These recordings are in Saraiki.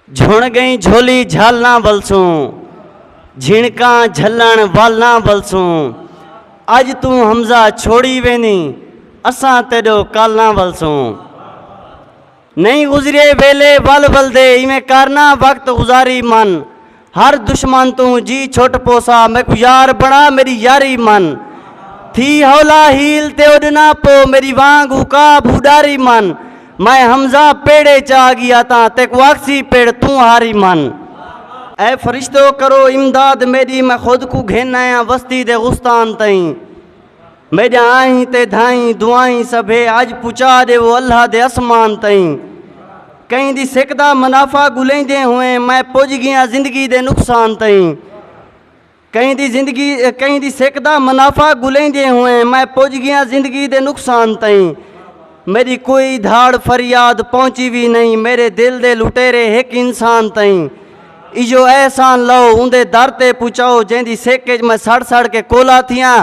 جھݨ ڳئیں جھولی جھل نہ ولسوں جھنکاں جھلݨ ول نہ ولسوں اڄ توں حمزہ چھوڑی ویندیں اساں تیݙو کل نہ ولسوں نئیں گزریے ویلے ول ولدے ایویں کر نہ وقت گزاری من ہر دشمن توں جی چھٹ پوسا میکوں یار بنا میڈی یاری من تھی ہولا ہیل تے اڈنا پو میڈی وانگ اکا بھو ڈاری من میں حمزہ پیڑے چا گیا تاں تیکوں آکھسی پیڑ توں ہاری من۔ اے فرشتو کرو امداد میڈی میں خود کوں گھن آیاں وستی دے غستان تئیں۔ میڈیاں آہیں تے دھائیں دعائیں سبھے اج پچا ڈیوو اللہ دے اسمان تئیں کہیں دی سک دا منافع گلیندیں ہوئیں میں پج گیاں زندگی دے نقصان تئیں کہیں دی زندگی کہیں دی سک دا منافع گلیندیں ہوئیں میں پج گیاں زندگی دے نقصان تئیں میݙی کوئی دھاڑ فریاد پہنچی وی نئیں میݙے دل دے لٹیرے ہک انسان تئیں ایہو احسان لہو اوندے در تے پچاؤ جیندی سک اچ میں سڑ سڑ کے کولا تھیاں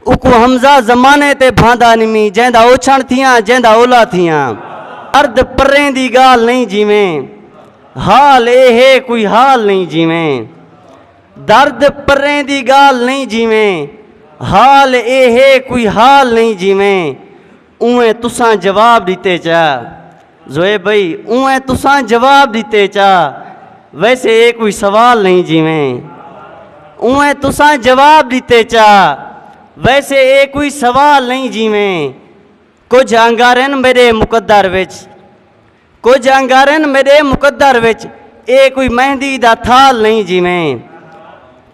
اوکوں حمزہ زمانے تے بھاندا نمی جیندا اوچھݨ تھیاں جیندا اولا تھیاں ارد پریں دی ڳالھ نئیں جیویں حال اے ہے کوئی حال نئیں جیویں۔ درد پریں دی گالھ نئیں جیویں حال اے ہے کوئی حال نئیں جیویں اونویں تساں جواب ڈتے چا زویب بھئی اونویں تساں جواب ڈتے چا ویسے اے کوئی سوال نئیں جیویں اونویں تساں جواب ڈتے چا ویسے اے کوئی سوال نئیں جیویں کجھ انگارن میڈے مقدر وچ کجھ انگارن میڈے مقدر وچ اے کوئی مہندی دا تھال نہیں جیویں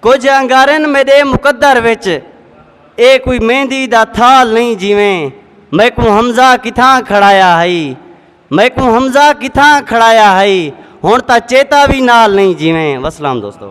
کجھ انگارن میڈے مقدر وچ اے کوئی مہندی دا تھال نہیں جیویں میکوں حمزہ کتھاں کھڑایا ہئی میکوں حمزہ کتھاں کھڑایا ہئی ہن تاں چیتا وی نال نہیں جیویں وسلام دوستو